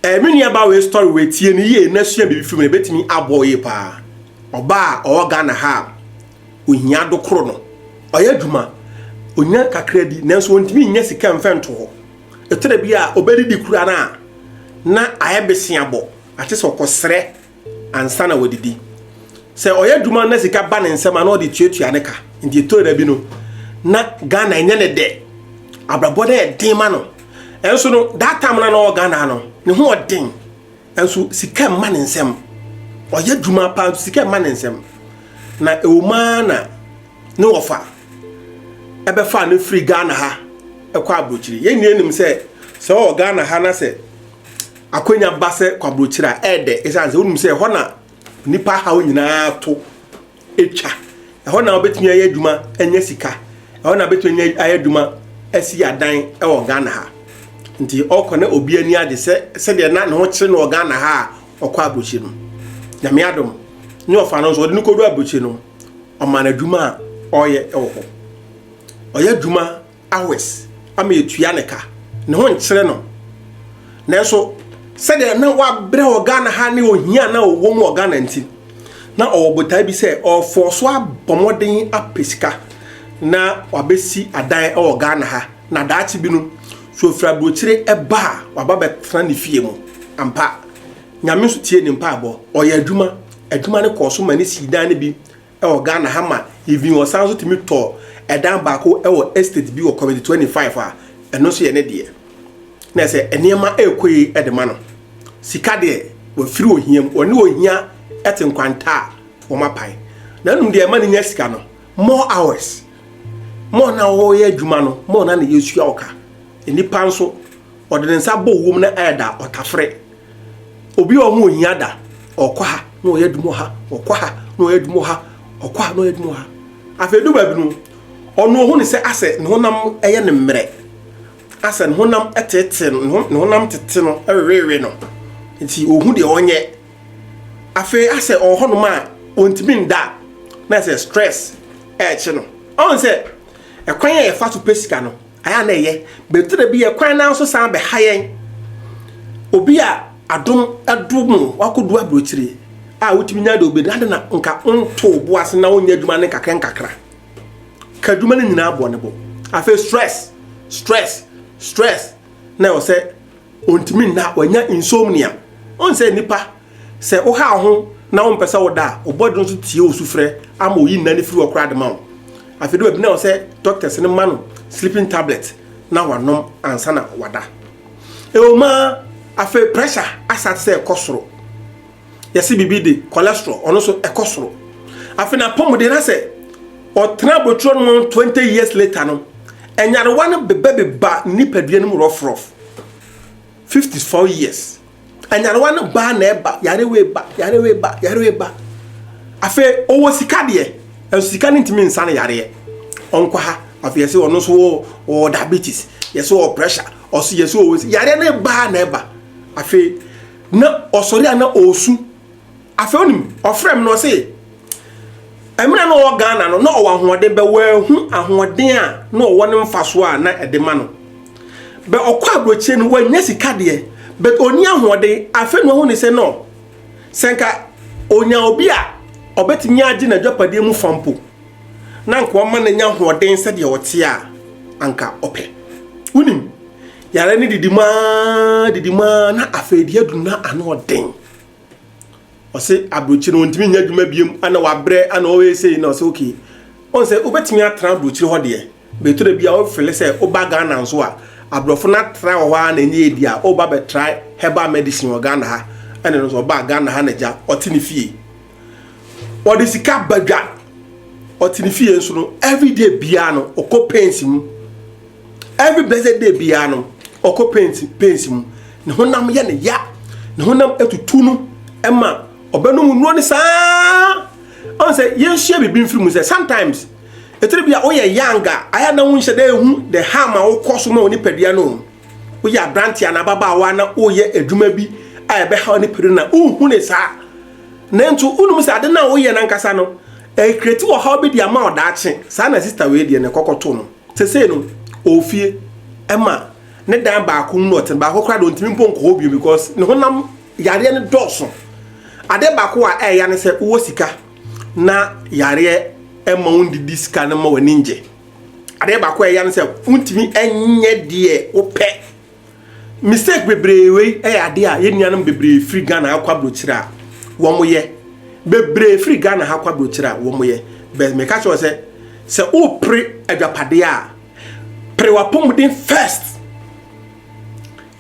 Eh me nua baa wei story wei tie no yie na sua biribi firi mu no ɛbɛtumi aboa wo yie paa. Ɔbaa a ɔwɔ Ghana ha a ɔhia adokoro no ɔyɛ adwuma ɔnya kakra bi nanso ɔntumi nnya sika mfa nto hɔ. Ɛtɔ da bi a ɔbɛdidi koraa no a na ayɛ beseabɔ ate sɛ ɔkɔsrɛ ansa na wadidi. Sɛ ɔyɛ adwuma na sika ba ne nsɛm a na ɔde tuatua ne ka. Nti ɛtɔ da bi no na Ghana ɛnyɛ ne dɛ. Abrabɔ no yɛ den ma no. Ɛnso no that time na ɔwɔ Ghana no ne ho ɔden. Ɛnso sika mma ne nsɛm. Ɔyɛ adwuma paa nso sika mma ne nsɛm. Na ɛwɔ mu ara na ne wɔfa ɛbɛfa no firi Ghana ha ɛkɔ aburokyiri. Yɛn nyinaa nim sɛ sɛ ɔwɔ Ghana ha na sɛ Akwannya ba sɛ kɔ aburokyiri a, ɛyɛ dɛ esiane sɛ wonim sɛ ɛhɔ na nnipa haw nyinaa to atwa. Ɛhɔ na wobɛtumi ayɛ adwuma anya sika. Ɛhɔ na wobɛtumi ayɛ adwuma asi adan wɔ Ghana ha. Nti ɔkɔ na obi ani agye sɛ sɛdeɛ na ne ho kyerɛ no wɔ Ghana ha a ɔkɔ aburokyiri no. Nyame adom ne ɔfa no nso ɔde no kɔdu aburokyiri no ɔma no adwuma a ɔyɛ wɔ hɔ. Ɔyɛ adwuma hours ama yɛtua ne ka ne ho nkyerɛ no nanso sɛdeɛ na wabrɛ wɔ ghana ha ne ohia na ɔwɔ mu wɔ ghana nti na ɔwɔ botae bi sɛ ɔfɔɔ so abɔ mmɔden apɛ sika na wabɛsi adan wɔ ghana ha na daakye bi no so ɔfiri aburokyire ɛba a waba bɛtena ne fie mu ampa nyame nso tie ne mpaebɔ ɔyɛ adwuma adwuma no kɔɔ so ma ne sii dan no bi wɔ Ghana ha ma even ɔsan nso tumi tɔɔ ɛdan baako wɔ estate bi wɔ committee twenty five a ɛno nso yɛ ne deɛ na ɛsɛ nneɛma ɛrekɔ yi ɛde ma no sika deɛ wɔfiri ohia mu wɔne ohia ɛte nkwanta a wɔn apae na ɛnum deɛ ɛma ne nya sika no more hours more na wɔyɛ adwuma no more na na yɛsua ɔka nnipa nso ɔde ne nsa bɔ owuom na ɛda ɔtafere. Obi a ɔho ohia da, ɔkɔ ha na ɔyɛ adwuma ha, ɔkɔ ha na ɔyɛ adwuma ha, ɔkɔ ha na ɔyɛ adwuma ha. Afei du baabi no, ɔno ohu ne sɛ asɛ ne honam yɛ ne mmerɛ, asɛ ne honam tete no, ne honam tete no, ɛwewewe no, nti ohu deɛ ɔnyɛ. Afei asɛ ɔwɔ hɔnom a ɔntumi nda, na sɛ stress ɛrekye no. Ɔhu sɛ ɛkwan a yɛfa so pɛ sika no, Ayɛ a na ɛyɛ, but tena bi yɛ kwan no ara so san bɛha yɛn. Obi a adom adom no, wakɔdu aburokyire a wotumi nya deɛ wobɛdi, adɛn na nka wonto wo bo ase na wonyɛ adwuma no nkakra nkakra? Ka adwuma no nyinaa bɔ ne bo. Afei stress, stress, stress na ɛwɔ sɛ ɔntumi nna, wanya insomnia. Wohu sɛ nnipa Sɛ wohaw wo ho na wompɛ sɛ woda a, wo bɔdwe nso tie wo sufrɛ ama oyi nna no firi hɔ koraa de ma wo. Afei de, wabina wo sɛ dɔktɛs no mma no sleeping tablet na wanom ansa na wada. Ɛwom ara, afei pressure asate sɛ ɛkɔ soro. Yɛse biribi de, cholesterol, ɔno nso ɛkɔ soro. Afei n'apɔmuden na sɛ ɔtena aboturo no mu 20 years later no, nyarewa no bebɛbeba ne nipadua no mu rɔfrɔf. 54 years. Anyarewa no baa na ɛba, yare wei ba, yare wei ba, yare wei ba. Afei ɔwɔ sika deɛ, ɛnso sika no ntumi nsa no yareɛ. Ɔnkɔ ha, afei yɛsɛ ɔno nso wɔ ɔwɔ diabetes, yɛsɛ ɔwɔ pressure, ɔso yɛsɛ ɔwɔ si. Yareɛ no baa na ɛba. Afei na ɔsɔre a na ɔresu. Afei onim, ɔfrɛ me na ɔse, mmerɛ na ɔwɔ Ghana no, na ɔwɔ ahoɔden, bɛ wɔahu ahoɔden a na ɔwɔ no mfasoɔ a na ɛde ma no. Bɛ ɔkɔ aburokyire no, wɔannya sika deɛ, but ɔnni ahoɔden, afei na wahu ne sɛ no, sɛ nka ɔnya obi a ɔbɛtumi agye n'adwapadeɛ mu fa mpo, na nka ɔma no anya ahoɔden sɛdeɛ ɔteɛ a, anka ɔpɛ. Wonim, yareɛ no didi mu ara, didi mu ara, na afei deɛ aduru no ano ɔden. ɔse aburokyire no ɔntumi nyɛ adwuma biom ana wabrɛ ana ɔyɛ sei na ɔse okay ɔn sɛ wobɛtumi atra aburokyire hɔ deɛ bɛtɔ da bi a wofele sɛ woba Ghana nso a aborɔfo no atra wɔ hɔ a na ɛnyɛ ɛdi a woba bɛtra herbal medicine wɔ Ghana ha ɛne no sɛ ɔba Ghana ha na gya ɔte ne fie ɔde sika badwa ɔte ne fie nso no everyday biara no ɔkɔ pains mu every blessed day biara no ɔkɔ paint paint mu ne honam yɛ ne ya ne honam atutu no ɛma ɔbɛnom nnuo ne saa ɔn sɛ yɛnhyia biribi mfiri mu sɛ sometimes ɛtiri bi a woyɛ young a ayɛ na wonhyɛ dɛ ehu the harm a wokɔ so ma wo nipadua no woyɛ aberanteɛ na ababaawa na woyɛ adwuma bi a ɛbɛha wo nipadua na wohu ne saa nanso wonom sɛ ade no a woyɛ no ankasa no ɛkreti wɔ ha wobɛdi ama ɔdaakye saa na sister wei deɛ ne kɔkɔto no Sesei no ɔwɔ fie ɛma ne dan baako mu na ɔte baako koraa de ɔntumi mpo nkɔ hɔ bio because ne honam yareɛ no dɔɔso adeɛ baako a ɛɛya ne sɛ wowɔ sika na yareɛ ɛma wo ndidi sika no ma w'ani ngye adeɛ baako a ɛɛya ne sɛ wontumi ɛnyɛ deɛ wopɛ mistake bebree wei yɛ adeɛ a yɛn nuanom bebree firi ghana ha kɔ aburokyerɛ a wɔn yɛ bebree firi ghana ha kɔ aburokyerɛ a wɔn yɛ bɛn mɛka kyerɛ sɛ sɛ wopere adwapadeɛ a pere wapɔmuden first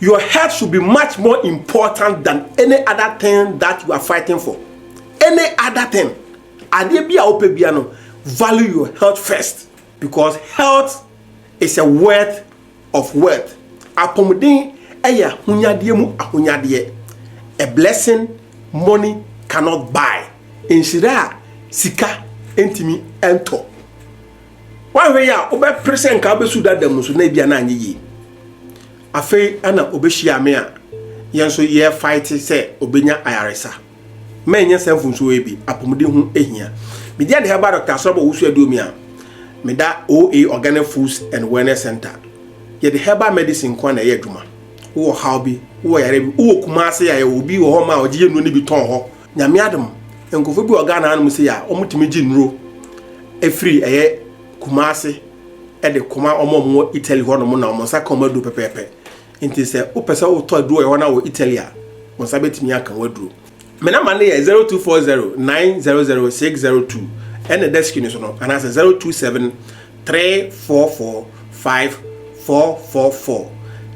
your health should be much more important than any other thing that you are fighting for any other thing adeɛ bi a wopɛ bia no value your health first because health is a worth of wealth, Apɔmuden yɛ ahonyadeɛ mu ahonyadeɛ, a blessing money cannot buy, nhyira a sika ntumi ntɔ. Woahwɛ yi a, wobɛpere sɛ nka wobɛsu dada mu so na ebia na anyɛ yie. Afei ɛna ɔbɛhyia me a, yɛn nso yɛrefaete sɛ ɔbɛnya ayaresa. Mɛnyɛ saa mfunsuo yi bi, apɔmuden ho hia. Medi ade herbal doctor asɔrɔ bɔ wusu aduomi a, meda OA Organic Foods and Wellness Center. Yɛde herbal medicine nko ara na ɛyɛ adwuma. Wowɔ haw bi, wowɔ yare bi, wowɔ Kumasi a yɛwɔ obi wɔ hɔ ma a ɔgye yɛ nnuro no bi tɔn hɔ. Nyame adom, nkurɔfoɔ bi wɔ Ghana hanom sei a wɔtumi gye nnuro firi ɛyɛ Kumasi de kɔma wɔn a wɔwɔ Italy hɔnom na wɔn nsa ka wɔn aduro pɛpɛɛpɛ. Enti sɛ wopɛ sɛ wotɔ aduro wɔ ɛhɔ na wɔ Italy a, wɔn nsa bɛtumi aka w'aduro. Me namba no yɛ zero two four zero nine zero zero six zero two ɛna desk no so no anaasɛ zero two seven three four four five four four four.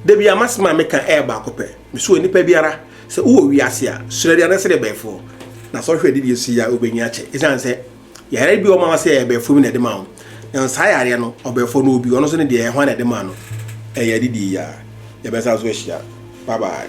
Da bi a m'asɛm a meka ɛyɛ baako pɛ, mesua nipa biara sɛ wowɔ wiase a, srɛ deɛ na srɛ bɛɛfoɔ na sɛ ɔhwɛ de deɛ si a wobɛnya akyɛ ɛsiane sɛ Yare bi wɔ ma wɔsɛ ɛbɛɛfo bi na ɛde ma wo. Na saa yareɛ no ɔbɛɛfo no obi ɔno nso ne deɛ hwan na ɛde ma no. Ɛyɛ adidie yi a. Yɛbɛsan so ahyia. Bye bye.